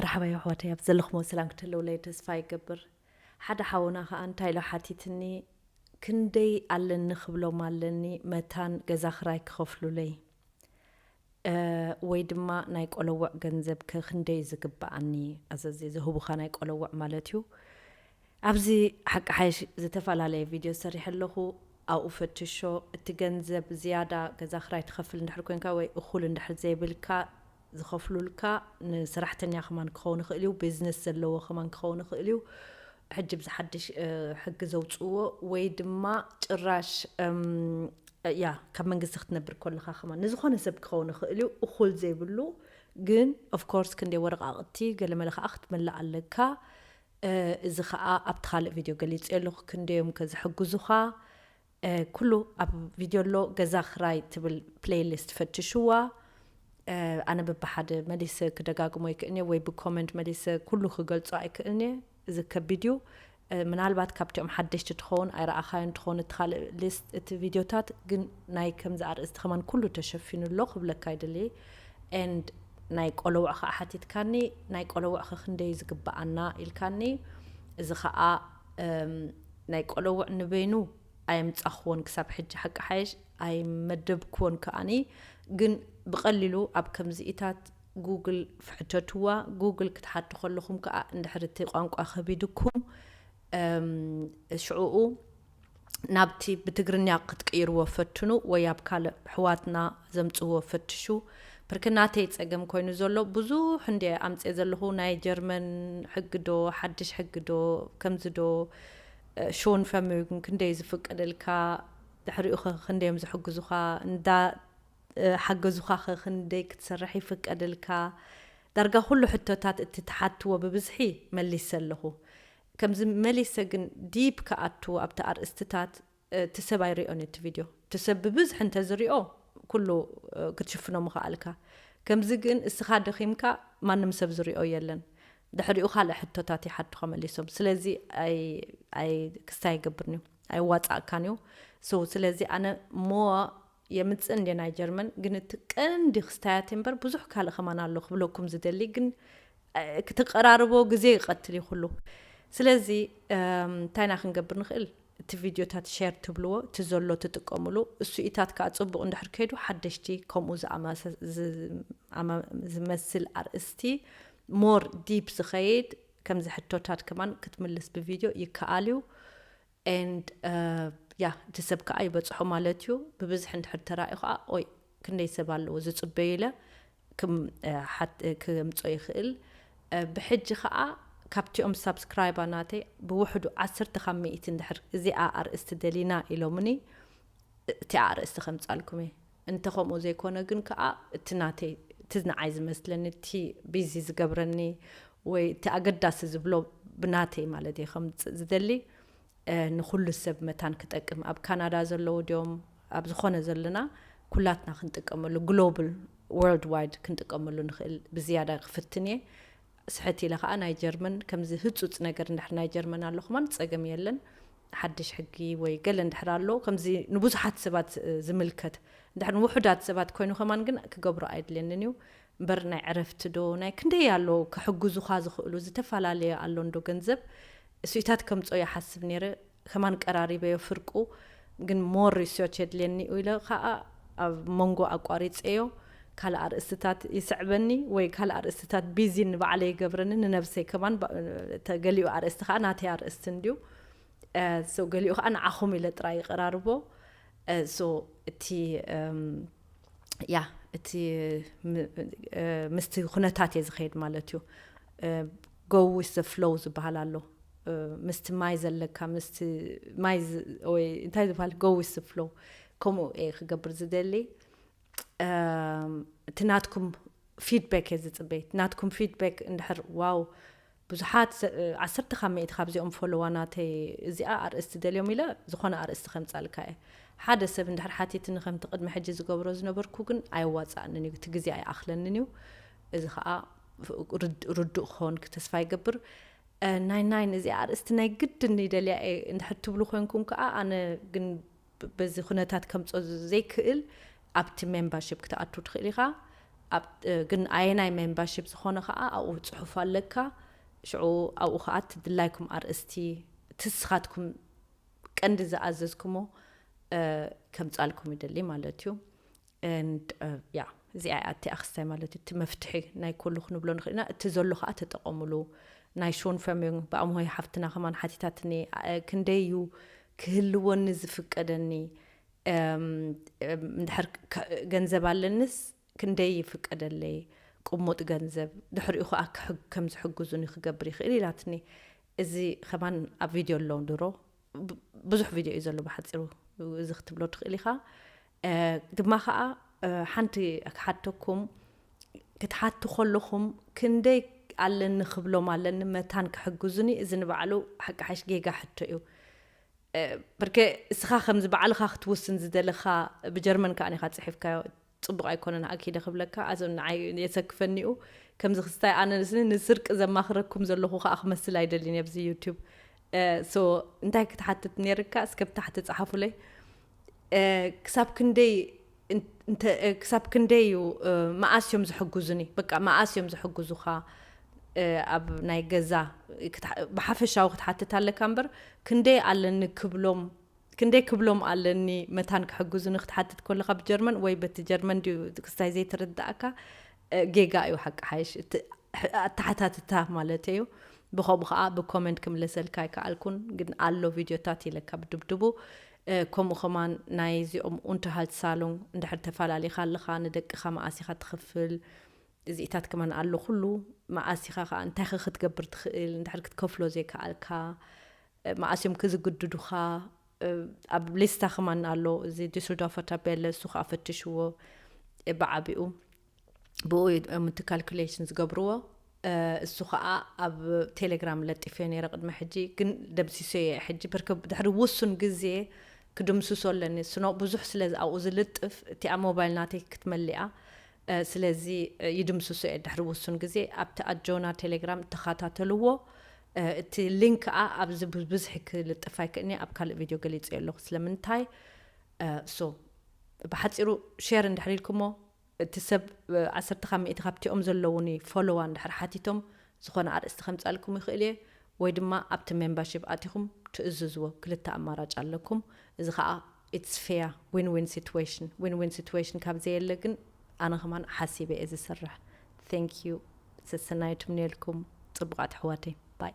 መርሓባ የሕዋተይ ኣብ ዘለኽሞ ሰላም ክትህልውለይ ተስፋ ይገብር ሓደ ሓውና ከኣ እንታይ ኢሉ ሓቲትኒ ክንደይ ኣለኒ ክብሎም ኣለኒ መታን ገዛ ክራይ ክኸፍሉለይ ወይ ድማ ናይ ቆለውዕ ገንዘብ ከ ክንደይ ዝግብኣኒ ኣዘዚ ዝህቡኻ ናይ ቆለውዕ ማለት እዩ ኣብዚ ሓቂ ሓይሽ ዝተፈላለየ ቪድዮ ሰሪሐ ኣለኹ ኣብኡ ፈትሾ እቲ ገንዘብ ዝያዳ ገዛ ክራይ ትኸፍል እንድሕር ኮንካ ወይ እኹል እንድሕር ዘይብልካ ዝኸፍሉልካ ንሰራሕተኛ ከማን ክኸውን ይኽእል እዩ ቢዝነስ ዘለዎ ከማን ክኸውን ይኽእል እዩ ሕጂ ብዚ ሓድሽ ሕጊ ዘውፅዎ ወይ ድማ ጭራሽ ያ ካብ መንግስቲ ክትነብር ኮለኻ ከማን ንዝኾነ ሰብ ክኸውን ይኽእል እዩ እኹል ዘይብሉ ግን ኦፍኮርስ ክንደይ ወረቃቅቲ ገለመለ ከዓ ክትመልእ ኣለካ እዚ ከዓ ኣብቲ ካልእ ቪድዮ ገሊፀ ኣለኹ ክንደዮም ከዝሕግዙኻ ኩሉ ኣብ ቪድዮ ኣሎ ገዛ ክራይ ትብል ፕለይ ሊስት ፈትሽዋ ኣነ ብብሓደ መሊሰ ክደጋግሞ ኣይክእልን እየ ወይ ብኮመንት መሊሰ ኩሉ ክገልጾ ኣይክእልን እየ እዚ ከቢድ እዩ ምናልባት ካብቲኦም ሓደሽቲ ትኸውን ኣይረኣኻዮ እንትኸውን እቲ ካልእ ሊስት እቲ ቪድዮታት ግን ናይ ከምዚ ኣርእስቲ ከማን ኩሉ ተሸፊኑ ኣሎ ክብለካ ይደሊ ኤንድ ናይ ቆለውዕ ከዓ ሓቲትካኒ ናይ ቆለውዕ ከክንደዩ ዝግበኣና ኢልካኒ እዚ ከዓ ናይ ቆለውዕ ንበይኑ ኣየምጻኽዎን ክሳብ ሕጂ ሓቂ ሓይሽ ኣይመደብክዎን ከኣኒ ግን ብቀሊሉ ኣብ ከምዚኢታት ጉግል ፍሕተትዋ ጉግል ክትሓቱ ከለኹም ከኣ እንድሕር እቲ ቋንቋ ከቢድኩም ሽዑኡ ናብቲ ብትግርኛ ክትቅይርዎ ፈትኑ ወይ ኣብ ካልእ ኣሕዋትና ዘምጽዎ ፈትሹ ብርክ ናተይ ጸገም ኮይኑ ዘሎ ብዙሕ እንድየ ኣምጽየ ዘለኹ ናይ ጀርመን ሕጊ ዶ ሓድሽ ሕጊ ዶ ከምዚ ዶ ሾን ፈሚዩግን ክንደይ ዝፍቀደልካ ድሕሪኡ ከ ክንደዮም ዝሕግዙኻ እንዳ ሓገዙኻ ከ ክንደይ ክትሰርሕ ይፍቀደልካ ዳርጋ ኩሉ ሕቶታት እቲ ትሓትዎ ብብዝሒ መሊሰ ኣለኹ ከምዚ መሊሰ ግን ዲፕ ክኣቱ ኣብቲ ኣርእስትታት እቲ ሰብ ኣይሪኦን እዩ እቲ ቪድዮ እቲ ሰብ ብብዝሒ እንተዝሪኦ ኩሉ ክትሽፍኖ ምኸኣልካ ከምዚ ግን እስኻ ደኺምካ ማንም ሰብ ዝሪኦ የለን ድሕሪኡ ካልእ ሕቶታት ይሓቱኻ መሊሶም ስለዚ ኣይ ክስታይ ኣይገብርን እዩ ኣይዋጻእካን እዩ so ስለዚ ኣነ more የምጽእ እንድየ ናይ ጀርመን ግን እቲ ቀንዲ ክስታያት እምበር ብዙሕ ካልእ ከማን ኣሎ ክብለኩም ዝደሊ ግን ክትቀራርቦ ግዜ ይቀትል እዩ ኩሉ ስለዚ እንታይና ክንገብር ንኽእል እቲ ቪድዮታት ሸር ትብልዎ እቲ ዘሎ ትጥቀምሉ እሱኢታት ከዓ ፅቡቅ እንድሕር ከይዱ ሓደሽቲ ከምኡ ዝመስል ኣርእስቲ ሞር ዲፕ ዝኸይድ ከምዚ ሕቶታት ከማን ክትምልስ ብቪድዮ ይከኣል እዩ and yeah እቲ ሰብ ከኣ ይበጽሖ ማለት እዩ ብብዝሒ እንድሕር ተራእዩ ከኣ ኦይ ክንደይ ሰብ ኣለዎ ዝጽበዩ ኢለ ክምጾ ይኽእል ብሕጂ ከኣ ካብቲኦም ሳብስክራይባ ናተይ ብውሕዱ ዓሰርተ ካብ ሚእቲ እንድሕር እዚኣ ኣርእስቲ ደሊና ኢሎምኒ እቲኣ ኣርእስቲ ከምጻልኩም እየ እንተ ከምኡ ዘይኮነ ግን ከኣ እቲ ናተይ እቲ ንዓይ ዝመስለኒ እቲ ቢዚ ዝገብረኒ ወይ እቲ ኣገዳሲ ዝብሎ ብናተይ ማለት እየ ከምጽእ ዝደሊ ንኩሉ ሰብ መታን ክጠቅም ኣብ ካናዳ ዘለዉ ድዮም ኣብ ዝኾነ ዘለና ኩላትና ክንጥቀመሉ ግሎብል ወርልድ ዋይድ ክንጥቀመሉ ንኽእል ብዝያዳ ክፍትን እየ ስሕት ኢለ ከኣ ናይ ጀርመን ከምዚ ህጹጽ ነገር እንድሕር ናይ ጀርመን ኣሎ ከማን ጸገም የለን ሓድሽ ሕጊ ወይ ገለ እንድሕር ኣሎ ከምዚ ንብዙሓት ሰባት ዝምልከት እንድሕር ንውሑዳት ሰባት ኮይኑ ከማን ግን ክገብሮ ኣይድልየንን እዩ እምበር ናይ ዕረፍቲ ዶ ናይ ክንደይ ኣሎ ክሕግዙኻ ዝኽእሉ ዝተፈላለየ ኣሎ እንዶ ገንዘብ እሱኢታት ከምጾ ይሓስብ ነይረ ከማን ቀራሪበዮ ፍርቁ ግን ሞር ሪስዮች የድልየኒ እዩ ኢለ ከኣ ኣብ መንጎ ኣቋሪጸዮ ካልእ ኣርእስትታት ይስዕበኒ ወይ ካልእ ኣርእስትታት ቢዚ ንባዕለይ ይገብረኒ ንነብሰይ ከማን ተገሊኡ ኣርእስቲ ከኣ ናተይ ኣርእስቲ እንድዩ ሶ ገሊኡ ከዓ ንዓኹም ኢለ ጥራይ ይቀራርቦ ሶ እቲ ያ እቲ ምስቲ ኩነታት እየ ዝኸይድ ማለት እዩ ጎ ዊስ ዘ ፍሎው ዝበሃል ኣሎ ምስቲ ማይ ዘለካ ምስቲ ማይ ወይ እንታይ ዝበሃል ጎ ዊስ ዘ ፍሎው ከምኡ እየ ክገብር ዝደሊ እቲ ናትኩም ፊድበክ እየ ዝፅበ ናትኩም ፊድበክ እንድሕር ዋው ብዙሓት ዓሰርተ ካብ ሚእቲ ካብዚኦም ፎሎዋናተይ እዚኣ ኣርእስቲ ደልዮም ኢለ ዝኾነ ኣርእስቲ ከምፃልካ እየ ሓደ ሰብ እንድሕር ሓቲትኒ ከምቲ ቅድሚ ሕጂ ዝገብሮ ዝነበርኩ ግን ኣየዋፅኣንን እዩ እቲ ግዜ ኣይኣኽለንን እዩ እዚ ከዓ ርዱእ ክኸውን ተስፋ ይገብር ናይ ናይን እዚ ኣርእስቲ ናይ ግድን ይደልያ እየ እንድሕር ትብሉ ኮንኩም ከዓ ኣነ ግን በዚ ኩነታት ከምጾ ዘይክእል ኣብቲ ሜምባርሺፕ ክትኣቱ ትክእል ኢካ ኣብ ግን ኣየናይ ሜምባርሺፕ ዝኮነ ከኣ ኣብኡ ጽሑፍ ኣለካ ሽዑ ኣብኡ ከኣ እቲ ድላይኩም ኣርእስቲ እቲ ንስካትኩም ቀንዲ ዝኣዘዝኩሞ ከምጻልኩም ይደሊ ማለት እዩ። and yeah እዚኣ እያ እቲ ኣክስታይ ማለት እቲ መፍትሒ ናይ ኩሉ ክንብሎ ንክእል ኢና እቲ ዘሎ ከኣ ተጠቀምሉ ናይ ሾንፈምዩንግ ብኣምሆይ ሓፍትና ከማን ሓቲታትኒ ክንደይ እዩ ክህልወኒ ዝፍቀደኒ እንድሕር ገንዘብ ኣለንስ ክንደይ ይፍቀደለይ ቅሙጥ ገንዘብ ድሕሪኡ ከኣ ከም ዝሕግዙኒ ክገብር ይክእል ኢላትኒ እዚ ከማን ኣብ ቪድዮ ኣሎ ድሮ ብዙሕ ቪድዮ እዩ ዘሎ ብሓፂሩ እዚ ክትብሎ ትክእል ኢካ ድማ ከኣ ሓንቲ ክሓተኩም ክትሓቱ ከለኹም ክንደይ ኣለኒ ክብሎም ኣለኒ መታን ክሕግዙኒ እዚ ንባዕሉ ሓቂ ሓሽ ጌጋ ሕቶ እዩ ብርከ እስኻ ከምዚ ባዕልኻ ክትውስን ዝደለኻ ብጀርመን ከዓ ኒኻ ፅሒፍካዮ ፅቡቅ ኣይኮነን ኣኪደ ክብለካ ኣዞ ንዓይ የሰክፈኒኡ ከምዚ ክስታይ ኣነ ንስርቂ ዘማኽረኩም ዘለኹ ከዓ ክመስል ኣይደልን ኣብዚ ዩቱብ ሶ እንታይ ክትሓትት ነይርካ እስከ ብታሕቲ ፀሓፉለይ ክሳብ ክንደይ ክሳብ ክንደይ እዩ መኣስ እዮም ዝሕግዙኒ በቃ መኣስ እዮም ዝሕግዙኻ ኣብ ናይ ገዛ ብሓፈሻዊ ክትሓትት ኣለካ እምበር ክንደይ ኣለኒ ክብሎም ክንደይ ክብሎም ኣለኒ መታን ክሕግዙኒ ክትሓትት ከለካ ብጀርመን ወይ በቲ ጀርመን ድዩ ክስታይ ዘይትርዳእካ ጌጋ እዩ ሓቂ ሓይሽ እቲ ኣተሓታትታ ማለት እዩ ብከምኡ ከዓ ብኮመንት ክምለሰልካ ኣይከኣልኩን ግን ኣሎ ቪድዮታት ኢለካ ብድብድቡ ከምኡ ከማን ናይ እዚኦም ኡንተርሃልትሳሉንግ እንድሕር ተፋላሊካ ኣለካ ንደቅካ መኣስ ኢካ ትክፍል እዚኢታት ከማን ኣሎ ኩሉ መኣስ ኢካ ከኣ እንታይ ከ ክትገብር ትክእል እንድሕር ክትከፍሎ ዘይከኣልካ መኣስ እዮም ክዝግድዱካ ኣብ ሊስታ ከማን ኣሎ እዚ ዲስልዶርፈር ታቤለ እሱ ከኣ ፈትሽዎ ብዓቢኡ። ብኡ እዮም እቲ ካልኩሌሽን ዝገብርዎ እሱ ከዓ ኣብ ቴሌግራም ለጢፈዮ ነይረ ቅድሚ ሕጂ ግን ደምሲሶ እየ ሕጂ ብርክ ድሕሪ ውሱን ግዜ ክድምስሶ ኣለኒ ስኖ ብዙሕ ስለ ኣብኡ ዝልጥፍ እቲኣ ሞባይል ናተይ ክትመሊኣ ስለዚ ይድምስሶ እየ ድሕሪ ውሱን ግዜ ኣብቲ ኣጆና ቴሌግራም ተኸታተልዎ እቲ ሊንክ ከዓ ኣብዚ ብብዝሒ ክልጥፍ ኣይክእልኒ ኣብ ካልእ ቪድዮ ገሊፀዮ ኣለኹ ስለምንታይ ሶ ብሓፂሩ ሼር እንድሕር ኢልኩሞ እቲ ሰብ ዓሰርተ ካብ ሚእቲ ካብቲኦም ዘለዉኒ ፎሎዋ እንድሕር ሓቲቶም ዝኾነ ኣርእስቲ ከምጻልኩም ይኽእል እየ ወይ ድማ ኣብቲ ሜምባሺፕ ኣቲኹም ትእዝዝዎ ክልተ ኣማራጭ ኣለኩም እዚ ከኣ ኢትስ ፌያ ዊን ዊን ሲትዌሽን ዊን ዊን ሲትዌሽን ካብ ዘየለ ግን ኣነ ከማን ሓሲበ እየ ዝስርሕ ቴንክ ዩ ሰሰናዩ ትምነየልኩም ጽቡቃት ኣሕዋተይ ባይ።